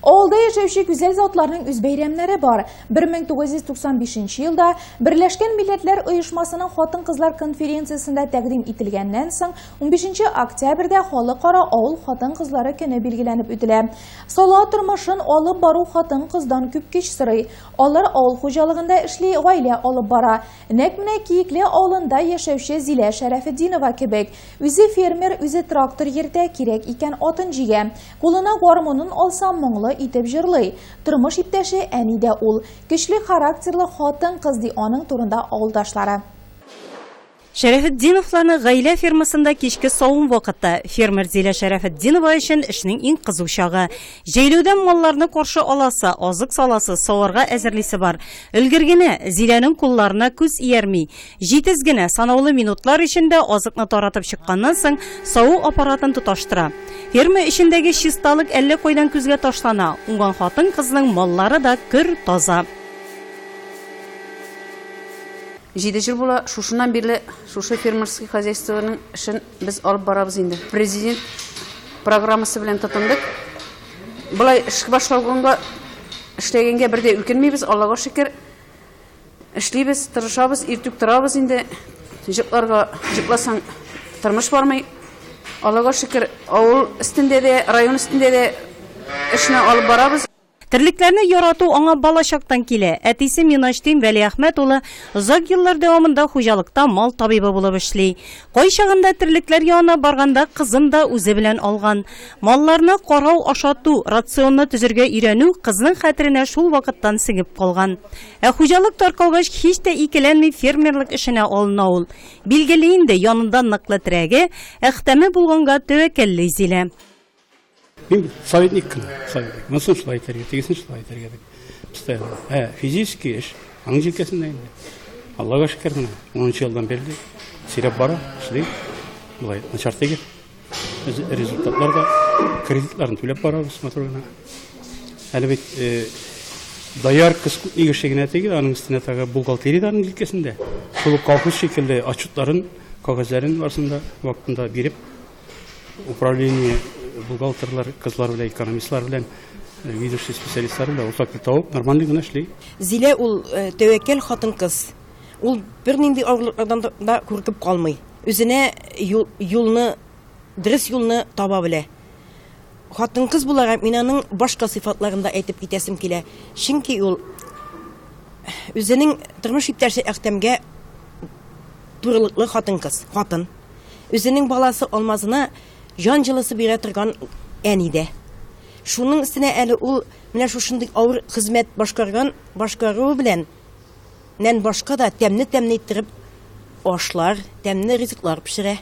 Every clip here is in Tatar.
Авылда яшәүче гүзәл затларның үз бәйрәмнәре бар. 1995 елда Берләшкән милләтләр оешмасының хатын-кызлар конференциясендә тәкъдим ителгәннән соң 15 октябрьдә халыкара авыл хатын-кызлары көне билгеләнеп үтелә. Сала тормышын алып бару хатын-кыздан күп көч сорый. Алар авыл хуҗалыгында эшли, гаилә алып бара. Нәкъ менә Киекле авылында яшәүче Зилә Шәрәфетдинова кебек. Үзе фермер, үзе трактор йөртә, кирәк икән атын җигә. Кулына гармунын алса, моңлы итеп җырлый. Тормыш иптәше әни дә ул. Көчле характерлы хатын-кыз, ди аның турында авылдашлары. Шәрәфетдиновларның гаилә фермасында кичке савым вакыты, фермер Зилә Шәрәфетдинова өчен эшнең иң кызу чагы. Җәйләүдә малларны каршы аласы, азык саласы, саварга әзерлисе бар. Өлгергене, Зиләнең кулларына күз иярми. Җитез генә санаулы минутлар эчендә азыкны таратып чыкканнан соң, саву аппаратын тоташтыра. Ферма эчендәге чисталык әллә кайдан күзгә ташлана, уңган хатын-кызның маллары да көр, таза. Җиде ел була, шушыннан бирле шушы фермерский хозяйствоның эшен без алып барабыз инде. Президент программасы белән тотындык. Болай эш башлауга эшләгәнгә бер дә үкенмибез, Аллага шөкер. Эшлибез, тырышабыз, иртүк торабыз инде. Җыкларга җыкласаң, тормыш бармый. Аллага шөкер, авыл өстендә дә, район өстендә дә эшне алып барабыз. Терлекләрне ярату аңа балачактан килә. Әтисе Миначтин Вәлиәхмәт улы озак еллар дәвамында хуҗалыкта мал табибы булып эшли. Кайчагында терлекләр янына барганда кызын да үзе белән алган. Малларны карау, ашату, рационны төзергә өйрәнү кызның хәтеренә шул вакыттан сеңеп калган. Ә хуҗалык таркалгач, һич тә икеләнми фермерлык эшенә алына ул. Билгеле инде, янында ныклы терәге, Әхтәме булганга тәвәккәлли Зилә. Мин советник кына, советник. Монысын шулай итәргә, тегесен шулай итәргә дип. Постоянно. Ә, физически эш, аның җилкәсендә инде. Аллага шөкер менә, 10 елдан берле сөйләп бара, эшли. Болай начар түгел. Без результатлар да кредитларын түләп барабыз матур гына. Әле бит э, доярка скутник эше генә түгел, аның өстенә тагы бухгалтерия дә аның җилкәсендә. Шул ук колхоз шикелле отчетларын, кагазьләрен барысын да вакытында биреп, Управление бухгалтерлар, кызлар белән, экономистлар белән, э, ведущий специалистлар белән уртак тел табып, нормальный гына эшли. Зилә ул э, тәвәккәл хатын-кыз. Ул бернинди авырлыклардан да- да куркып калмый. Үзенә юл- юлны, дөрес юлны таба белә. Хатын-кыз буларак мин аның башка сыйфатларын да әйтеп китәсем килә. Чөнки ул үзенең тормыш иптәше Әхтәмгә турылыклы хатын-кыз, хатын. Үзенең баласы Алмазына җан җылысы бирә торган әни дә. Шуның өстенә әле ул менә шушындый авыр хезмәт башкарган, башкаруы белән нән башка да тәмне-тәмне иттереп ашлар, тәмне ризыклар пешерә.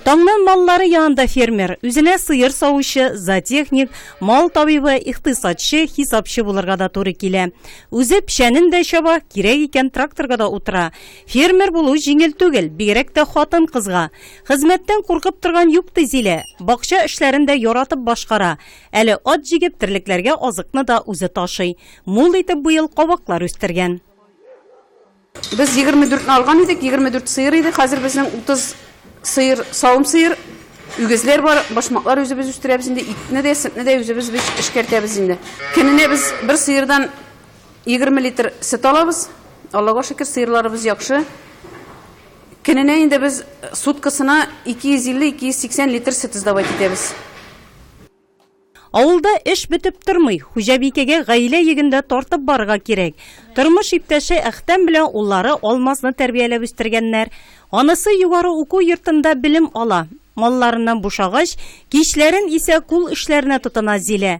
Таңнан маллары янында фермер, үзенә сыер савучы, зоотехник, мал табибы, икътисадчы, хисапчы булырга да туры килә. Үзе печәнен дә чаба, кирәк икән, тракторга да утыра. Фермер булу җиңел түгел, бигрәк тә хатын-кызга. Хезмәттән куркып торган юк, ди Зилә. Бакча эшләрен дә яратып башкара. Әле ат җигеп, терлекләргә азыкны да үзе ташый. Мул итеп быел кабаклар үстергән. Без егерме дүртне алган идек, егерме дүрт сыер иде, хәзер безнең утыз сыер, савым сыер, үгезләр бар, башмаклар үзебез үстерәбез инде, итне дә, сөтне дә үзебез без эшкәртәбез инде. Көненә без бер сыердан Егерме литр сөт алабыз. Аллага шөкер, сыерларыбыз яхшы. Көненә инде без суткасына 250-280 литр сөт сдавать итәбез. Авылда эш бетеп тормый, хуҗабикәгә гаилә йөген дә тартып барырга кирәк. Тормыш иптәше Әхтәм белән уллары Алмазны тәрбияләп үстергәннәр. Анысы югары уку йортында белем ала. Малларыннан бушагач, кичләрен исә кул эшләренә тотына Зилә.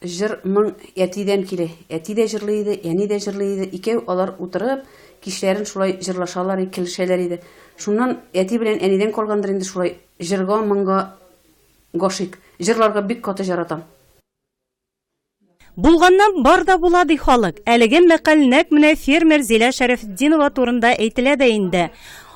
Җыр, моң әтидән килә. Әти дә җырлый иде, әни дә җырлый иде. Икәү алар утырып, кичләрен шулай җырлашалар и келешәләр иде. Шуннан әти белән әнидән калгандыр инде шулай җырга, моңга гашыйк. Җырларга бик каты җаратам. Булганнан бар да була, ди халык. Әлеге мәкаль нәкъ менә фермер Зилә Шәрәфетдинова турында әйтелә дә инде.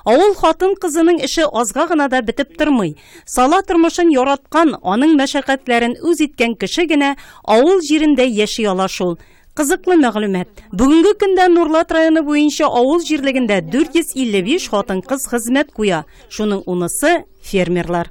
Авыл хатын-кызының эше азга гына да бетеп тормый. Сала тормышын яраткан, аның мәшәкатьләрен үз иткән кеше генә авыл җирендә яши ала шул. Кызыклы мәгълүмат. Бүгенге көндә Нурлат районы буенча авыл җирлегендә 455 хатын-кыз хезмәт куя. Шуның унысы фермерлар.